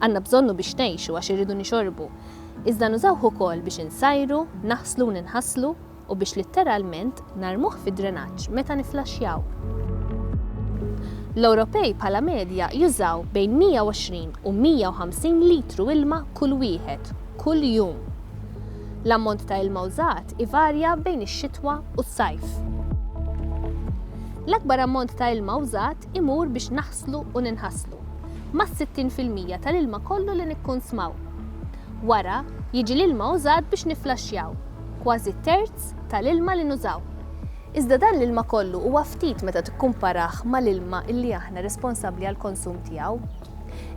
Għandna bżonnu biex ngħixu għax irridu nixorbu. Iżda nużawh ukoll biex insajru, naħslu u ninħaslu u biex litteralment narmuh fid-drenaġġ meta niflaxxjaw. L-Ewropej bħala medja jużaw bejn 120 u 150 litru ilma kull wieħed, kull jum. L-ammont ta' ilma użat ivarja bejn ix-xitwa u s-sajf. L-akbar ammont ta' ilma użat imur biex nfasslu u ninħaslu, mas-60 fil-mija tal-ilma kollu li nikkunsmaw. Wara, jiġi l-ilma użat biex nifflaxxjaw, kważi terz tal-ilma li nużaw. Iżda dan l-ilma kollu huwa ftit meta tikkumparah mal-ilma li aħna responsabbli għall-konsum tiegħu.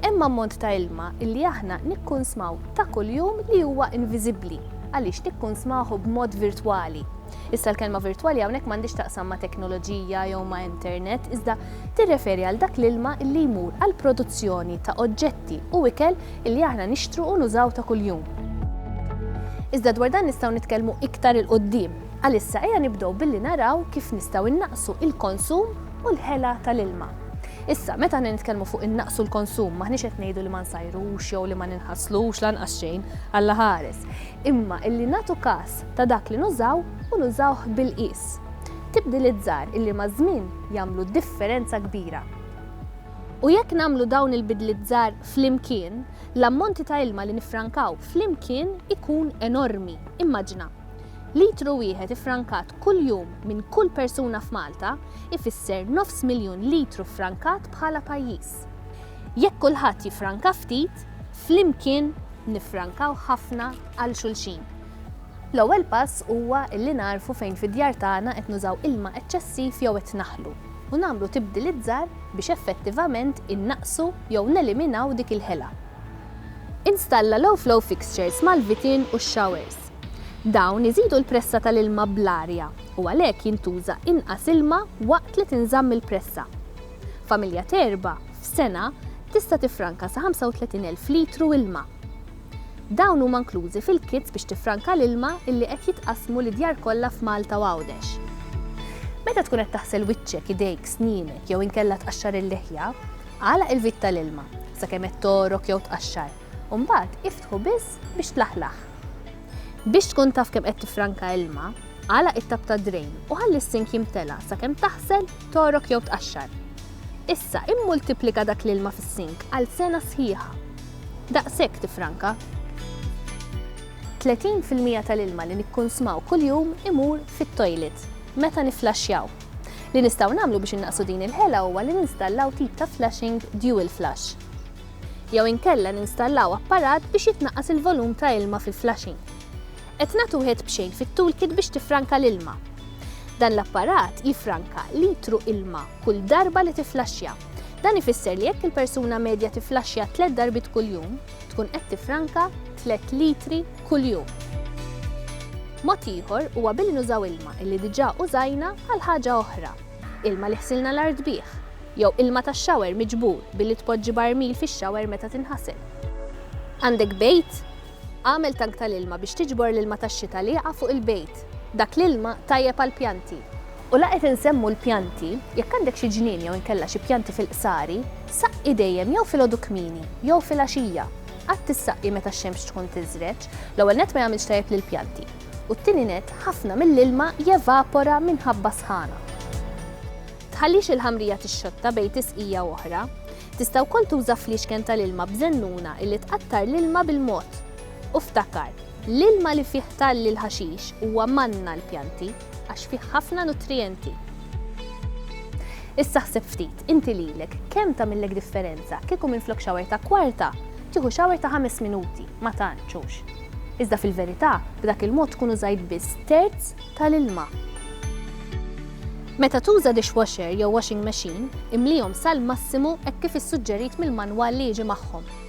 Hemm ammont ta' ilma li aħna nikkunsmaw ta' kuljum li huwa inviżibbli għaliex nikkunsmahu b'mod virtwali. Issa l-kelma virtwali hawnhekk m'għandix taqsam ma' teknoloġija jew ma' internet, iżda tirreferi għal dak l-ilma li jmur għal produzzjoni ta' oġġetti u ikel li aħna nixtru u nużaw ta' kuljum. Iżda dwar dan nistgħu nitkellmu iktar 'il quddiem. Għalissa ejja nibdew billi naraw kif nistgħu innaqsu il-konsum u l-ħela tal-ilma. Issa, meta aħna nitkellmu fuq innaqsu l-konsum, m'aħniex qed ngħidu li ma nsajrux jew li ma ninħaslux lanqas xejn, Alla ħares, imma illi nagħtu każ ta' dak li nużaw u nużawh bil-qies. Tibdiliet żgħar illi maż-żmien jagħmlu differenza kbira. U jekk nagħmlu dawn il-bidliet żgħar flimkien, l-ammonti ta' ilma li niffrankaw flimkien ikun enormi. Immaġina! Litru wieħed iffrankat kuljum minn kull persuna f'Malta ifisser nofs miljun litru ffrankat bħala pajjiż. Jekk kulħadd jiffranka ftit, flimkien niffrankaw ħafna għal xulxin. L-ewwel pass huwa li nagħrfu fejn fid-djar tagħna qed nużaw ilma eċċessiv jew qed naħlu u nagħmlu tibdiliet żgħar biex effettivament innaqqsu jew neliminaw dik il-ħela. Installa l-Owflow Fixtures mal-vitin u x-xawers. Dawn iżidu l-pressa tal-ilma bl-arja u għalhekk jintuża inqas ilma waqt li tinżamm il-pressa. Familja t'erba', f'sena, tista' tiffranka sa 35,000 litru ilma. Dawn huma nklużi fil-kits biex tiffranka l-ilma illi qed jitqassmu lid-djar kollha f'Malta u Għawdex. Meta tkun qed taħsel wiċċek, idejk, snienek jew inkella tqaxxar il-liħja, agħlaq il-vit tal-ilma sakemm qed togħrok jew tqaxxar u mbagħad iftħu biss biex tlaħlaħ. Biex tkun taf kemm qed tiffranka ilma, agħlaq it-tapp tad-drejn u ħalli s-sink jimtela' sakemm taħsel, togħrok jew tqaxxar. Issa immultiplika dak l-ilma fis-sink għal sena sħiħa. Daqshekk tiffranka. Tletin fil-mija tal-ilma li nikkunsmaw kuljum imur fit-toilet meta nifflaxxjaw. Li nistgħu nagħmlu biex innaqqsu din il-ħela huwa li ninstallaw tip ta' flushing dual flush. Jew inkella ninstallaw apparat biex jitnaqqas il-volum ta' ilma fil-flushing. Qed nagħtu wieħed b'xejn fit-toolkit biex tiffranka l-ilma. Dan l-apparat jiffranka litru ilma kull darba li tifflaxxja. Dan ifisser li jekk il-persuna medja tifflaxxja tliet darbiet kuljum, tkun qed tiffranka tliet litri kuljum. Mod ieħor huwa billi nużaw ilma illi diġà użajna għal ħaġa oħra, ilma li ħsilna l-art bih, jew ilma tax-shower miġbur billi tpoġġi barmil fix-shower meta tinħasel. Għandek bejt? Agħmel tank tal-ilma biex tiġbor l-ilma tax-xita li jaqa' fuq il-bejt. Dak l-ilma tajjeb għall-pjanti. U la qed insemmu l-pjanti, jekk għandek xi ġnien jew inkella xi pjanti fil-qsari, saqqi dejjem jew filgħodu kmieni jew filgħaxija. Qatt issaqqi meta x-xemx tkun tiżreġ, l-ewwel nett ma jagħmilx tajjeb lill-pjanti, u t-tieni nett ħafna mill-ilma jevapora minħabba s-sħana. Tħallix il-ħamrija tixxotta bejn tisqija u oħra. Tista' wkoll tuża fliexken tal-ilma b'żennuna illi tqattar l-ilma bil-mod. U ftakar, l-ilma li fih talli l-ħaxix huwa manna għall-pjanti. għax fih ħafna nutrijenti. Issa ħseb ftit, inti lilek, kemm tagħmillek differenza kieku minflok xawer ta' kwarta, tieħu xawer ta' ħames minuti, ma tantx hux. Iżda fil-verità, b'dak il-mod tkun użajt biss terz tal-ilma. Meta tuża dishwasher jew washing machine, imlihom sal-massimu hekk kif issuġġerit mill-manwal li jiġi magħhom.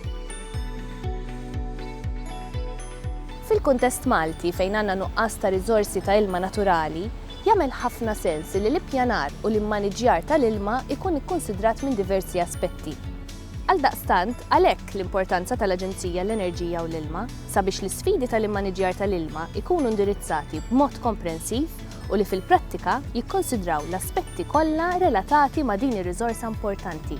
Fil-kuntest Malti, fejn għandna nuqqas ta' riżorsi ta' ilma naturali, jagħmel ħafna sens li l-ippjanar u l-immaniġġjar tal-ilma jkun ikkunsidrat minn diversi aspetti. Għaldaqstant, għalhekk l-importanza tal-Aġenzija għall-Enerġija u l-Ilma, sabiex l-isfidi tal-immaniġġjar tal-ilma jkunu indirizzati b'mod komprensiv u li fil-prattika jikkonsidraw l-aspetti kollha relatati ma' din ir-riżorsa importanti.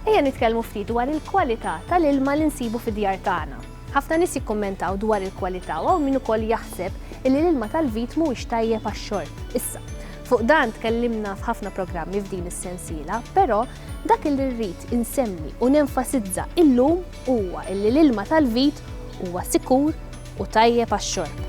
Ejja nitkellmu ftit dwar il-kwalità tal-ilma li nsibu fid-djar tagħna. Ħafna nies jikkummentaw dwar il-kwalità u hawn min ukoll jaħseb illi l-ilma tal-vit mhuwiex tajjeb għax-xorb. Issa, fuq dan tkellimna f'ħafna programmi f'din is-sensiela, però dak li rrid insemmi u nenfasizza illum huwa illi l-ilma tal-vit huwa sikur, u tajjeb għax-xorb.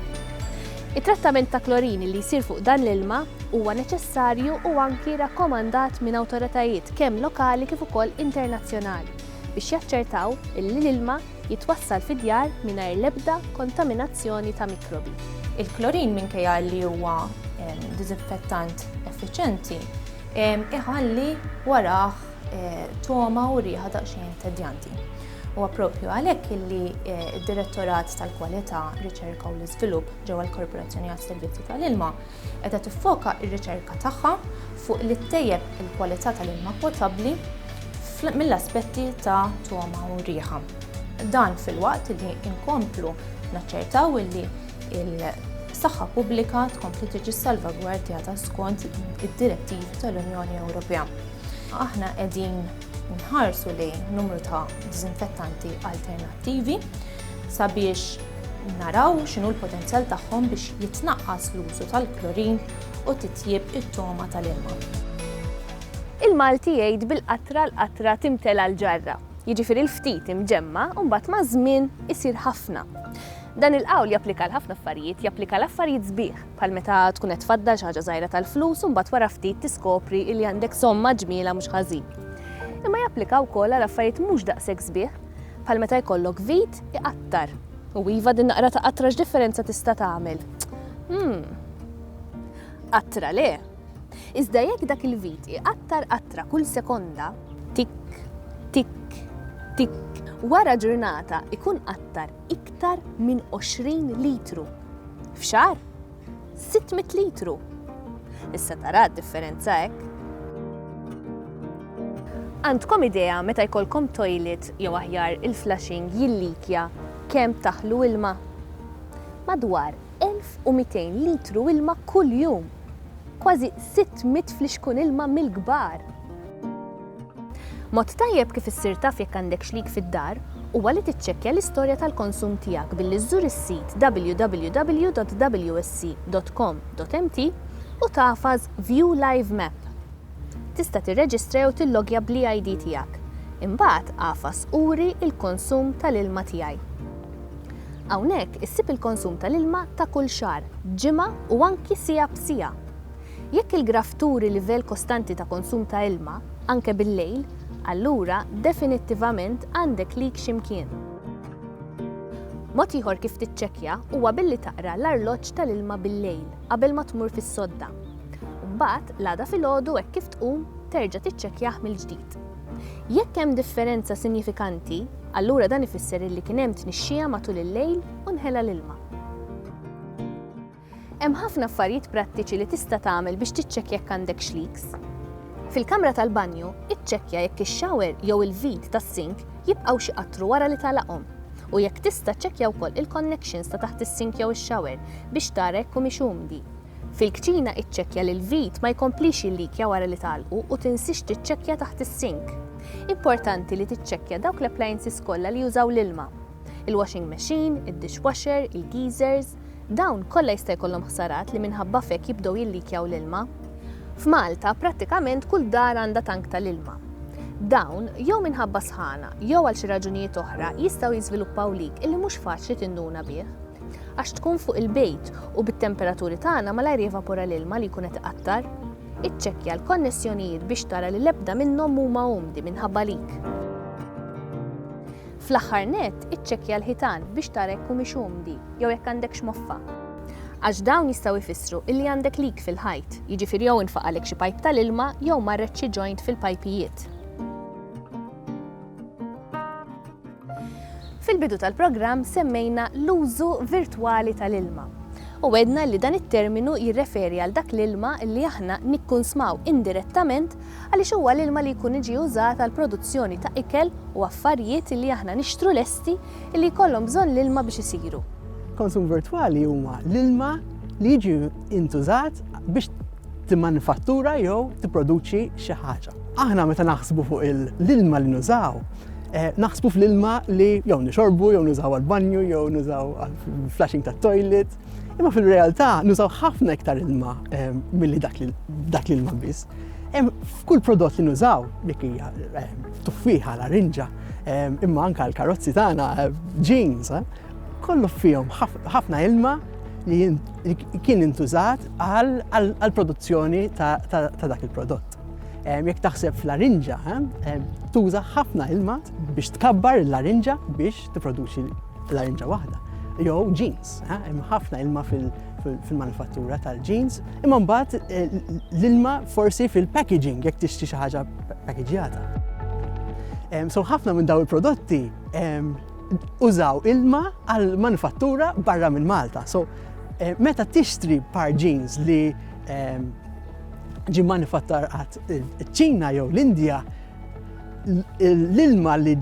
It-trattament ta' klorini li jsir fuq dan l-ilma huwa neċessarju u anki rakkomandat minn awtoritajiet kemm lokali kif ukoll internazzjonali biex jaċċertaw li l-ilma jitwassal fid-djar mingħajr l-ebda kontaminazzjoni ta' mikrobi. Il-klorin minkejja li huwa ehm, diżinfettant effiċenti, ehm, iħalli warah eh, toma u riħa daqsxejn tedjanti. Huwa proprju għalhekk illi d-Direttorat tal-Kwalità, Riċerka u l-Iżvilupp ġewwa l-Korporazzjoni għas-Servizzi tal-Ilma qiegħda tiffoka r-riċerka tagħha fuq li ttejjeb il-kwalità tal-ilma potabbli mill-aspetti ta' togħma u riħa. Dan filwaqt illi nkomplu naċċertaw illi l-saħħa pubblika tkompli tiġi salvagwardjata skont id-direttivi tal-Unjoni Ewropea. Aħna qegħdin Nħarsu lejn numru ta' diżinfettanti alternattivi sabiex naraw x'inhu l-potenzjal tagħhom biex jitnaqqas l-użu tal-klorin u titjieb it-togħma tal-ilma. Il-Malti jgħid bil-qatra l-qatra timtela l-ġarra, jiġifieri l-ftit imġemma' u mbagħad maż-żmien isir ħafna. Dan il-qawl japplika għal ħafna affarijiet, japplika għal affarijiet sbieħ. bħal meta tkun qed tfaddal xi ħaġa żgħira tal-flus u mbagħad wara ftit tiskopri li għandek somma ġmielha mhux ħażin. Imma japplika wkoll għal affarijiet mhux daqshekk sbieħ, bħal meta jkollok vit iqattar. U iva din naqra ta' qatra x'differenza tista' tagħmel? Hmm. Qatra le. Iżda jekk dak il-vit iqattar qatra kull sekonda, tik, tik, tik, wara ġurnata ikun qattar iktar minn 20 litru. F'xahar, 600 litru. Issa tara d-differenza hekk. Għandkom idea meta jkollkom toilet jew aħjar il-flushing jillikja kemm taħlu ilma? Madwar 1,200 litru ilma kull jum, kważi 600 flixkun ilma mill-kbar! Mod tajjeb kif issir taf jekk għandek xlig fid-dar huwa li tiċċekkja l-istorja tal-konsum tiegħek billi żżur is-sit www.wsc.com.mt u tagħfas View Live Map. Tista' tirreġistra jew tillogja bl-e-ID tiegħek. Imbagħad agħfas Uri l-konsum tal-ilma tiegħi. Hawnhekk issib il-konsum tal-ilma ta' kull xahar, ġimgħa u anki siegħa b'siegħa. Jekk il-graff turi livell kostanti ta' konsum ta' ilma, anke bil-lejl, allura definittivament għandek leak xi mkien. Mod ieħor kif tiċċekkja huwa billi taqra l-arloġġ tal-ilma bil-lejl qabel ma tmur fis-sodda. Mbagħad, l-għada filgħodu hekk kif tqum, terġa' tiċċekkjah mill-ġdid. Jekk hemm differenza sinjifikanti, allura dan ifisser illi kien hemm tnixxija matul il-lejl u nħela l-ilma. Hemm ħafna affarijiet prattiċi li tista' tagħmel biex tiċċekkja jekk għandekx leaks. Fil-kamra tal-banju, iċċekkja jekk ix-shower jew il-vit tas-sink jibqgħu xi qattru wara li tagħlaqhom, u jekk tista' ċċekkja wkoll il-connections ta' taħt is-sink jew ix-shower biex tara jekk humiex umdi. Fil-kċina iċċekkja li l-vit ma jkomplix jillikja wara li tagħlqu u tinsiex tiċċekkja taħt is-sink. Importanti li tiċċekkja dawk l-appliances kollha li jużaw l-ilma. Il-washing machine, id-dishwasher, il-geezers, dawn kollha jista' jkollhom ħsarat li minħabba f'hekk jibdew jillikjaw l-ilma. F'Malta prattikament kull dar għandha tank tal-ilma. Dawn, jew minħabba sħana, jew għal xi raġunijiet oħra, jistgħu jiżviluppaw leak illi mhux faċli tinduna bih. għax tkun fuq il-bejt u bit-temperaturi tagħna malajr jevapora l-ilma li jkun qed iqattar. Iċċekkja l-konnessjonijiet biex tara li l-ebda minnhom mhuma umdi minħabba leak. Fl-aħħar nett, iċċekkja l-ħitan biex tara jekk humiex umdi jew jekk għandekx moffa. Għax dawn jistgħu jfissru illi għandek leak fil-ħajt, jiġifieri jew infaqalek xi pajp tal-ilma jew marret xi joint fil-pajpijiet. Fil-bidu tal-programm semmejna l-użu virtwali tal-ilma u għedna li dan it-terminu jirreferi għal dak l-ilma li aħna nikkunsmaw indirettament għaliex huwa l-ilma li jkun iġi użat għall-produzzjoni ta' ikel u affarijiet li aħna nixtru lesti li jkollhom bżonn l-ilma biex isiru. Konsum virtwali huma l-ilma li jiġi intużat biex timmanifattura jew tipproduċi xi ħaġa. Aħna meta naħsbu fuq l-ilma li nużaw, Eh, naħsbu fl-ilma li jew nixorbu, jew nużaw għal-banju, jew nużaw għal-flashing ta' toilet. Imma fil-realtà nużaw ħafna iktar ilma eh, milli dak l-ilma biss. F'kull prodott li nużaw, dik hija eh, tuffiħa, larinġa, imma anka l-karozzi tagħna, jeans, kollu fihom ħafna ilma li kien intużat għal-produzzjoni ta' dak il-prodott. Jekk taħseb f'larinġa, tuża ħafna ilma biex tkabbar il-larinġa biex tipproduċi larinġa waħda. Jew jeans, hemm ħafna ilma fil-manifattura tal-jeans, imma mbagħad eh, l-ilma forsi fil-packaging jekk tixtri xi ħaġa packagġjata. So ħafna minn daw il-prodotti użaw ilma għal manifattura barra minn Malta. So eh, meta tixtri par jeans li ġie manifattar qatt iċ-Ċina jew l-Indja l-ilma li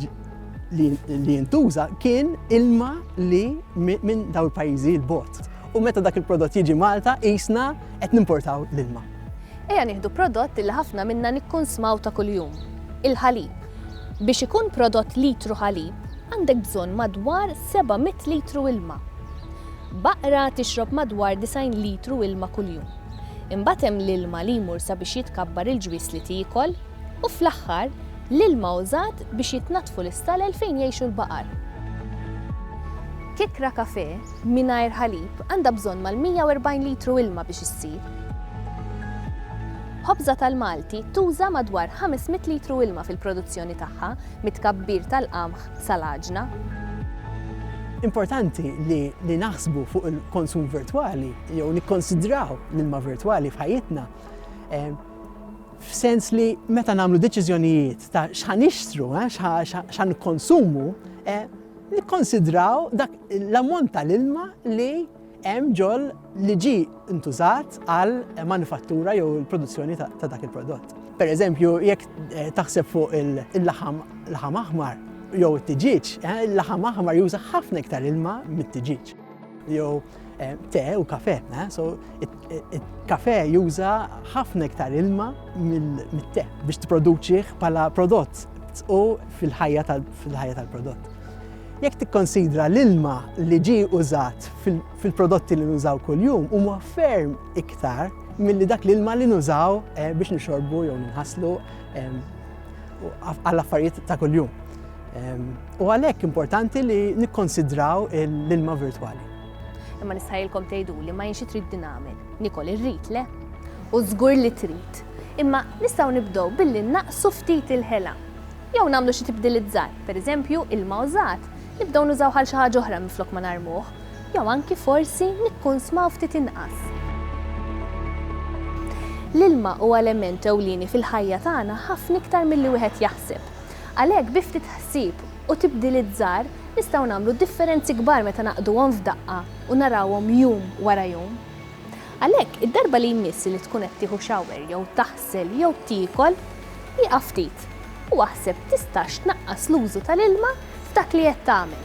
li jintuża kien ilma li minn daw il-pajjiżi l-bot. U meta dak il-prodott jiġi Malta qisna qed nimportaw l-ilma. Ejja nieħdu prodott li ħafna minna nikkunsmaw ta' kuljum, il-ħalib. Biex ikun prodott litru ħalib, għandek bżonn madwar 700 litru ilma. Baqra tixrob madwar 90 litru ilma kuljum. Imbagħad hemm l-ilma li jmur sabiex jitkabbar il-ġwież li tiekol, u fl-aħħar, l-ilma użat biex jitnaddfu l-istalel fejn jgħixu l-baqar. Kikra kafè mingħajr ħalib għandha bżonn mal-140 litru ilma biex issir. Ħobża tal-Malti tuża madwar 500 litru ilma fil-produzzjoni tagħha, mit-tkabbir tal-qamħ sal-għaġna. Importanti li naħsbu fuq il-konsum virtwali jew nikkonsidraw l-ilma virtwali f'ħajjitna eh, f'sens li meta nagħmlu deċiżjonijiet ta' x'ħan ixtru, eh, x'ħan konsumu, eh, nikkonsidraw dak l-ammont tal-ilma li hemm ġol li ġi intużat għal manifattura jew il-produzzjoni ta' dak il-prodott. Per eżempju, jekk taħseb fuq il-laħam laħam aħmar jew it-tiġiġ, il-laħam aħmar juża ħafna iktar ilma mit-tiġiġ. Jew Eh, te u kafe, eh, so il-kafe juża ħafna iktar ilma mill-te biex t-produċiħ pala prodott u fil-ħajja tal-prodott. Jekk tikkonsidra l-ilma li ġi użat fil-prodotti li nużaw kull-jum huma ferm iktar milli dak l-ilma li nużaw eh, biex nixorbu jew nħaslu u għall-affarijiet ta' kuljum. U għalhekk importanti li nikkonsidraw l-ilma virtwali. Imma nistħajilkom tgħidu li ma jinxi trid din għamil. Nikol irrid le. U żgur li trid. Imma nistgħu nibdew billi naqsu ftit il-ħela. Jew nagħmlu xi tibdilizzar, pereżempju ilma użat, nibdew nużaw għal xi ħaġa oħra minflok ma narmuh. Jew anki forsi nikkunsmaw ftit inqas. L-ilma huwa element ewlieni fil-ħajja tagħna ħafna iktar milli wieħed jaħseb. Għalhekk bi ftit ħsieb u tibdiliet żgħar nistgħu nagħmlu differenzi kbar meta naqduhom f'daqqa u narawhom jum wara jum. Għalhekk, id-darba li jmiss li tkun qed tieħu shower jew taħsel jew tiekol, ieqaf ftit u aħseb tistax tnaqqas l-użu tal-ilma f'dak li qed tagħmel.